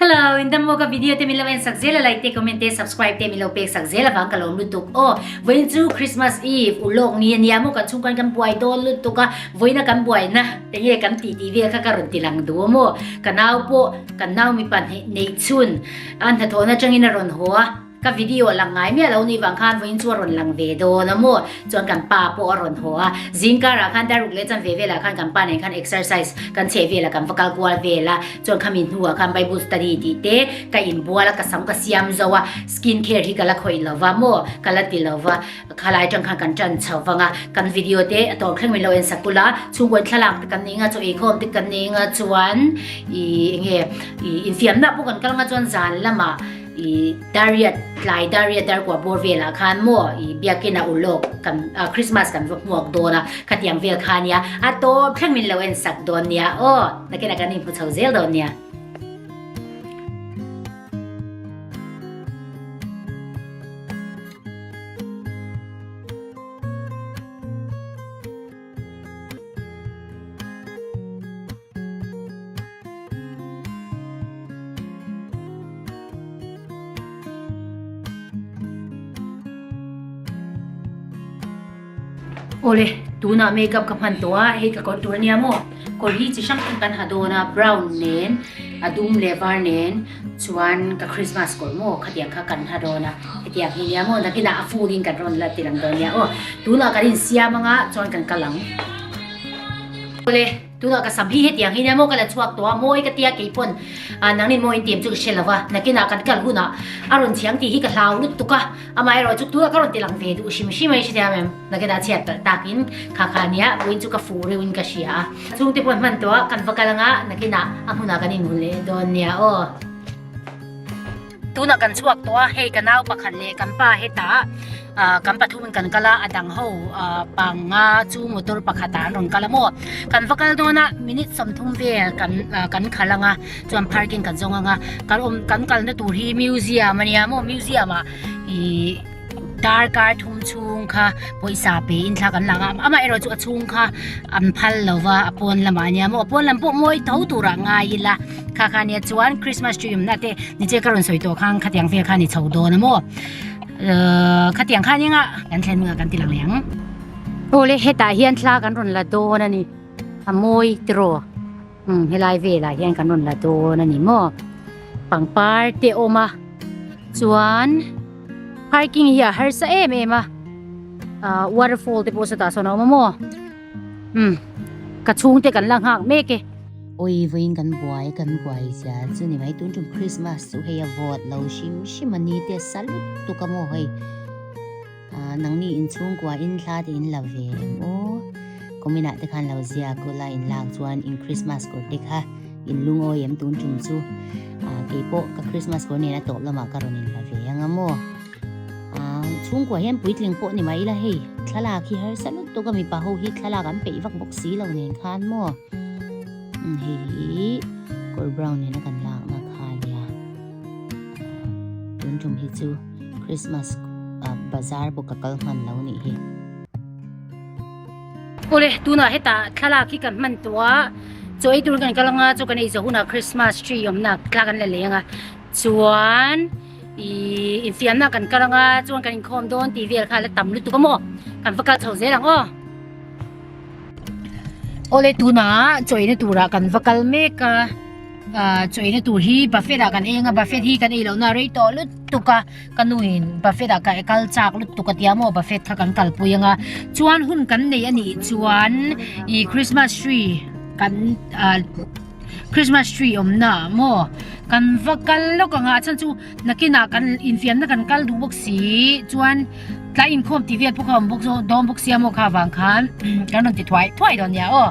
Hello, in dam maw ka video te min lo en sak zel a like te comment te subscribe te min lo pek sak zel avang ka lawm lutuk aw vawiin chu Christmas Eve u lawk ni a nia maw kan chhungkain kan buai dawn lutuk a vawiina kan buai na enge kan tih tih vel kha ka rawn ti lang duh a maw ka nau pawh kan nau mipa hnih nei chhun an hnathawhna changin a rawn haw a Ka video a lang ngai miah lo ni vang khan vawiin chu a rawn lang ve dawn a maw, chuan kan pa pawh a rawn haw a, zing karah khan daruk leh chanve velah khan kan pa nen khan exercise kan chheh velah kan va kal kual vel a, chuan khami hnuah khan Bible study tih te ka inbual a, ka sam ka siam zo a, skin care hi ka la khawih lo va maw ka la ti lo va, khalai aṭang khan kan ṭan chho vang a, kan video te a tawrh thleng min lo en sak bul a, chhungkawi thlalak te kan nei nga chu ei khawm te kan nei nga chuan ih eng nge ih infiamna pawh kan kal nga chuan zan lamah I Daria tlai Daria Darkua bawr velah khan maw i biakina ulh lawk kan ah Christmas kan va hmuak dawn a khatiang vel kha nia a tawp thleng min lo en sak dawn nia aw nakina kan inhmu chho zel dawn nia. Awle, tunah makeup ka hman tawh a, hei ka kawr tur ania maw? Kawr hi chi hrang hrang kan ha dawn a, brown nen, a dum leh var nen. Chuan ka Christmas kawr maw khatiang kha kan ha dawn a, hetiang hi nia maw nakinah a fun in kan rawn la ti lang dawn nia aw. Tunah kan in siam anga chuan kan kal ang. Awle, tunah ka sam hi hetiang hi nia maw ka la chhuak tawh a, mawi ka tia kei pawn a nangin mawi in ti em chu ka hre lo va. Nakinah kan kal hunah a rawn thiang tih hi ka hlau lut tuk a, amaherawhchu tunah ka rawn ti lang ve duh hrim hrim a i hre thiam em. Nakeda chhiat palh tak in kha kha nia puin chu ka fuh reuhin ka hria a. Chhung te pawh hman tawh a kan va kal anga Nakina a hmunah kan in hun leh dawn nia aw. Tunah kan chhuak tawh a hei ka nau pakhat leh kan pa hetah kan pathum in kan kal a a dang ho panga chu motor pakhatah an rawn kal a maw. Kan va kal dawn a minute sawmthum vel kan kan khal anga chuan parking kan zawng anga kan awm kan kalna tur hi museum ania maw museum ah ih-- Darkar thum chhung kha pawisa pe in thla kan lak a amah erawh chu a chhung kha an phal lo va a pawn lamah ania maw a pawn lam pawh mawi tho turah ngai ila kha kha nia chuan Christmas tree awmna te ni che ka rawn sawi tawh khan khatiang vel khan i chho dawn a maw khatiang khan enga kan thlen hmuna kan ti lang leh ang awle hetah hian thla kan rawn la dawn a ni a mawi tiraw. Umm helai velah hian kan rawn la dawn a ni maw pangpar te awm a chuan parking hi a harsa em em a ah waterfall te pawh satah sawn a awm a maw umm ka chhungte kan la nghak mek e. Awi vawiin kan buai kan buai zia chu ni mai tun tum Christmas chu hei a vawt lo hrim hrim a ni teh sa lut tuk a maw hei. Aa nangni in chhungkua in hla te in la ve em aw? Kawminah te khan lo ziak u la in lak chuan in Christmas kawr te kha in lungawi em tun tum chu aa keipawh ka Christmas kawr nena tawp lamah ka rawn in la ve ang a maw? Aa chhungkua hian puitling pawh ni mai ila hei thlalak hi harsa lut tuk a mipa ho hi thlalak an peih vak bawk si lo nen khan maw? Hei hi kawr brown nena kan lakna kha nia. Tun tum hi chu Christmas ah bazar bu ka kal hman lo nih hi. Awle tuna heta thlalak hi kan hman tua chawi tur kan kal anga chu kan eizo huna Christmas tree awmna thla kan la lei anga chuan i infiamna kan kal anga chuan kan inkhawm dawn tih vel kha la tam lutuk a maw kan va kal chho zel ang aw. Awle tuna chawina tura kan va kal mek a. Ahh chaw eina tur hi buffet ah kan eng a buffet hi kan eilo na rei tawh lut tuk a ka nu in buffet ah ka kal chak lut tuk a tia maw buffet kha kan kal pui anga chuan hun kan neih a nih chuan i Christmas tree kan ahh Christmas tree awmna ah maw kan va kal lawk anga a chhan chu nakinah kan infiamna kan kal duh bawk si chuan tlai inkhawm tih vel pawh ka awm bawk zawk dawn bawk sia maw kha vang khan kan rawn ti thuai thuai dawn nia aw.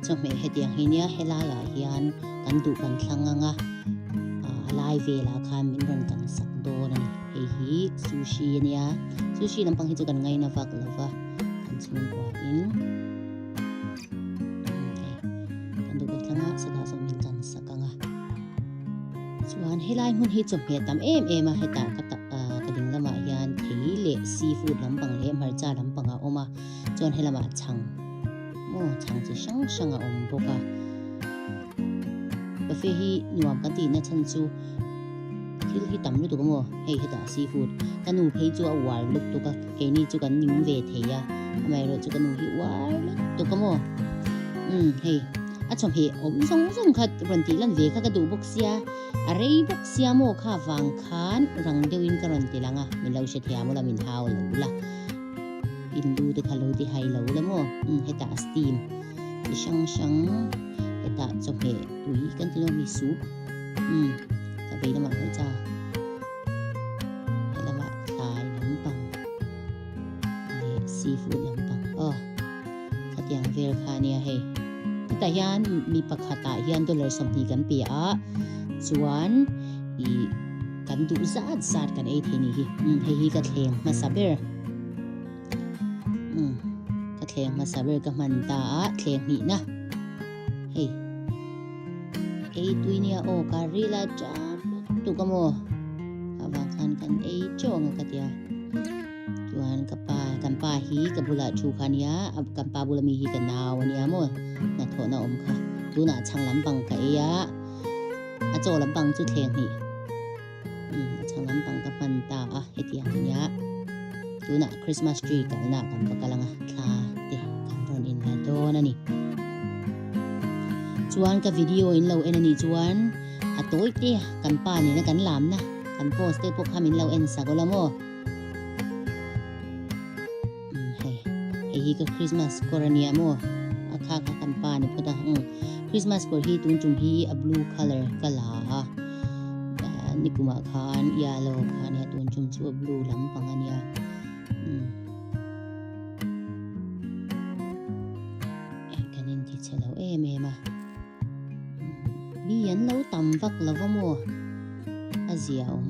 Chawhmeh hetiang hi nia helaiah hian kan duh kan thlang ngang a, a lai velah khan min rawn kan sak dawn a ni. Hei hi sushi a nia, sushi lampang hi chu kan ngaina vak lo va, kan chhungkua in hei kan duh kan thlang a, sawtah zawng min kan sak ngang a. Chuan helai hmun hi chawhmeh tam em em a, hetah ka ta ka ding lamah hian thei leh seafood lampang leh hmarcha lampang a awm a, chuan helamah chhang Maw chhang chi hrang hrang a awm bawk a. Cafe hi nuam kan tihna chhan chu thil hi tam lutuk amaw hei hetah seafood ka nu phei chu a uar lutuk a keini chu kan ning ve thei a amaerawh chu ka nu hi uar lutuk amaw um hei a chawhmeh awm zawng zawng kha rawn tih lan ve kha ka duh bawk sia a rei bawk sia maw kha vang khan rang deuhin ka rawn ti lang a min lo hre thei a maw la min hau lo la Hindu te kha lo ti hai lo la maw? Um, hetah steam chi hrang hrang, hetah chawhmeh tui kan ti lo mi soup, um, ta vei lamah pawh cha. He lamah thlai lampang leh seafood lampang. Oh, khatiang vel kha nia hei. Hetah hian mi pakhatah hian dollar sawmhnih kan pe a, chuan i Kan duh zat zat kan ei thei ni hi. Um, hei hi ka thleng hmasa ber. Um, ka thleng hmasa ber ka hman ta a thleng hnih na. Hei. Ei tui nia o ka rila cham tu ka mo. Ka vang khan kan ei chau anga ka tia. Tuan ka pa, kan pa hi ka bula chu kha nia. Kan pa bula mi hi ka nau ania mo. Na thona om kha. Tuna chang lam bang ka ei a. a chaw lampang chu thleng hnih i a chhang lampang ka hman ta a hetiang ania tuna christmas tree kalna kan va kal anga thla te kan rawn in la dawn ani chuan ka video in lo en ani chuan a tawi te kan pa ni na kan lam na kan post te pawh khamin lo en sa go lamo Hei, hei hi ka Christmas kawr a ni a maw? A khak a kan pa ni phawt a. Umm, Christmas kawr hi tun tum hi a blue colour ka la a. Nikum ah khan yellow kha a ni a, tun tum chu a blue lampang a ni a. Umm. Kan inti chhe lo em em a. Ni an lo tam vak lo va maw? A zia awm.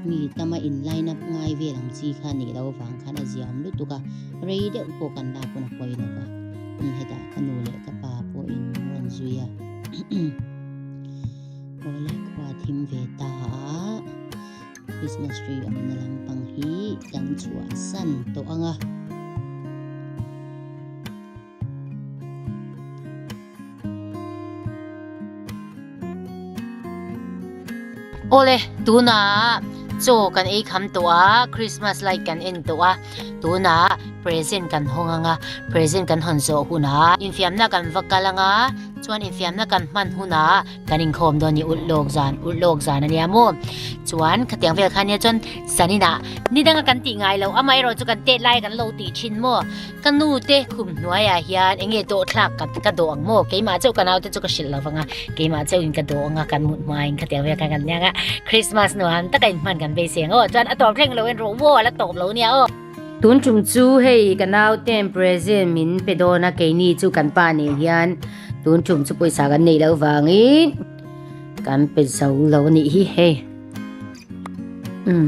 Mi tama in line up ngai vel ang chi kha nih loh avang khan a zia awm lutuk a, rei deuh pawh kan lak pawn a pawi lo va, hetah ka nu leh ka pa pawh in rawn zui a. Aw le khua thim ve ta a, Christmas tree awmna lampang hi kan chhuah san tawh ang a. Awle, tunah chaw kan ei kham tawh a, Christmas light kan en tawh a, tunah present kan haw ngang a, present kan hawn zawh hunah infiamna kan va kal ang a, chuan infiamna kan hman hunah kan inkhawm dawn ni ulh lawk zan, ulh lawk zan a nia maw. Chuan khatiang vel khania chuan saninah ni danga kan tih ngai lo, amaherawhchu kan tet laia kan lo tih thin maw. Ka nu te khum hnuai ah hian enge dawh thlak ka ka dawh ang maw keimah chauh ka nau te chu ka hrilh lo vang a keimah chauh in ka dawh ang a kan mut hma in ka tel vek ang an nia Christmas nuam tak a in hman kan beiseng aw chuan a tawp thleng lo in rawh maw ala tawp lo nia aw tun tum chu hei ka nau ten present min pe dawn a keini chu kan pa nen hian tun tum chu pawisa kan nei lo vang in kan pe zo lo ni hi hei um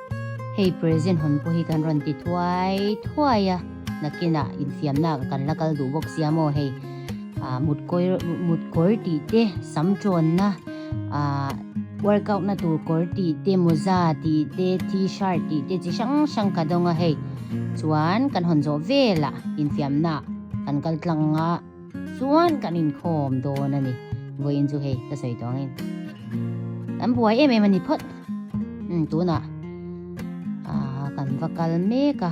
Hei present hawn pawh hi kan rawn ti thuai thuai a, nakinah infiamnaka kan la kal duh bawk sia maw hei, ah mutkawir mutkawr tih te, sam tawnna, ah workout na tur kawr tih te, mawza tih te, t-shirt tih te chi hrang hrang ka dawng a hei. Chuan kan hawn zawh velah infiamna kan kal tlang a. chuan kan inkhawm dawn a ni vawiin chu hei ka sawi tawh angin kan buai em em a ni phawt um tunah ah kan va kal mek a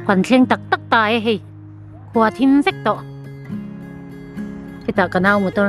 kan thleng tak tak ta e hei khua thim vek tawh hetah ka nau motor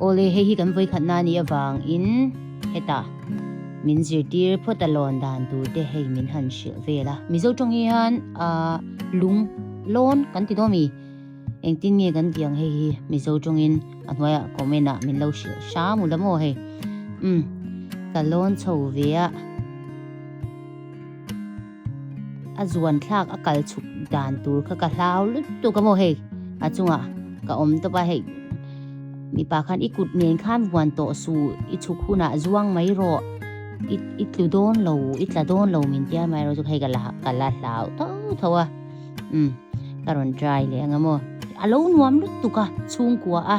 Awle hei hi kan vawikhatna nih avangin heta min zirtir phawt a lawn dan tur te hei min han hrilh vel a. Mizo tawng hi hian ah lung lawn kan ti dawn mi engtin nge kan tih ang hei hi Mizo tawngin a hnuaia comment ah min lo hrilh hra mu la maw hei um ka lawn chho ve a. a zuan thlak a kal chhuk dan tur kha ka hlau lutuk a maw hei a chungah ka awm tawpa hei mipa khan i kut nen khan vuan tawh su i chhuk hunah zuang mai rawh i i tlu dawn lo i tla dawn lo min tia mai rawh chu hei ka la ka la hlau tho tho a um ka rawn try leh ang a maw a lo nuam lutuk a chhungkua a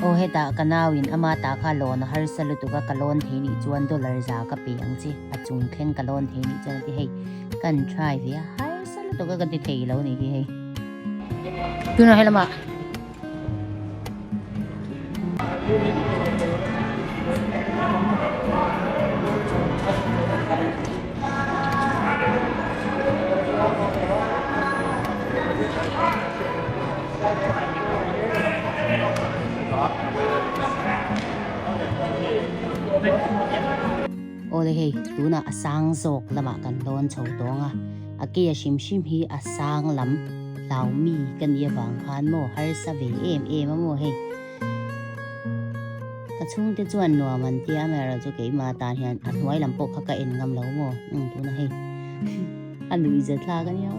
Aw heta ka nauin ama ta kha loan a harsa lutuka ka loan thei nih chuan dollar za ka pe ang chi a chung thleng ka loan thei nih chuan ati hei kan try ve a harsa lutuka ka ti thei lo ni hi hei tuna helama Awle hei tunah a sang zawk lamah kan dawn chho tawnga. a kei a hrim hrim hi a sang lam hlau mi ka nih avang khan maw harsa ve em em a maw hei ka chung te chuan nuam an tia mai ro chu keima tan hian a hnuai lam pawh kha ka en ngam lo maw nung tuna hei a lui zet thlak a nia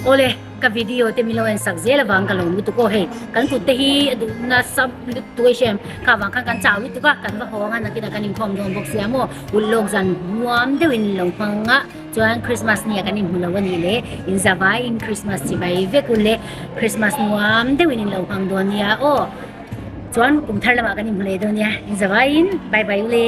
Awle, ka video te min lo en sak zel avang ka lo lutuk aw hei. Kan kutte hi a duh nasa lut tu eish em. Kha avang khan kan chau lutuk a, kan va hawng a nakin a kan inkhawm dawn bawk sia maw. Vul lawk zan nuam deuhin min lo hmang a, chuan Christmas nia kan inhmu lo a nih le. In zavaiin Christmas chivai vek u le. Christmas nuam deuhin in lo hmang dawn nia aw. Chuan kum thar lamah kan inhmu leh dawn nia. In zavaiin bye bye u le.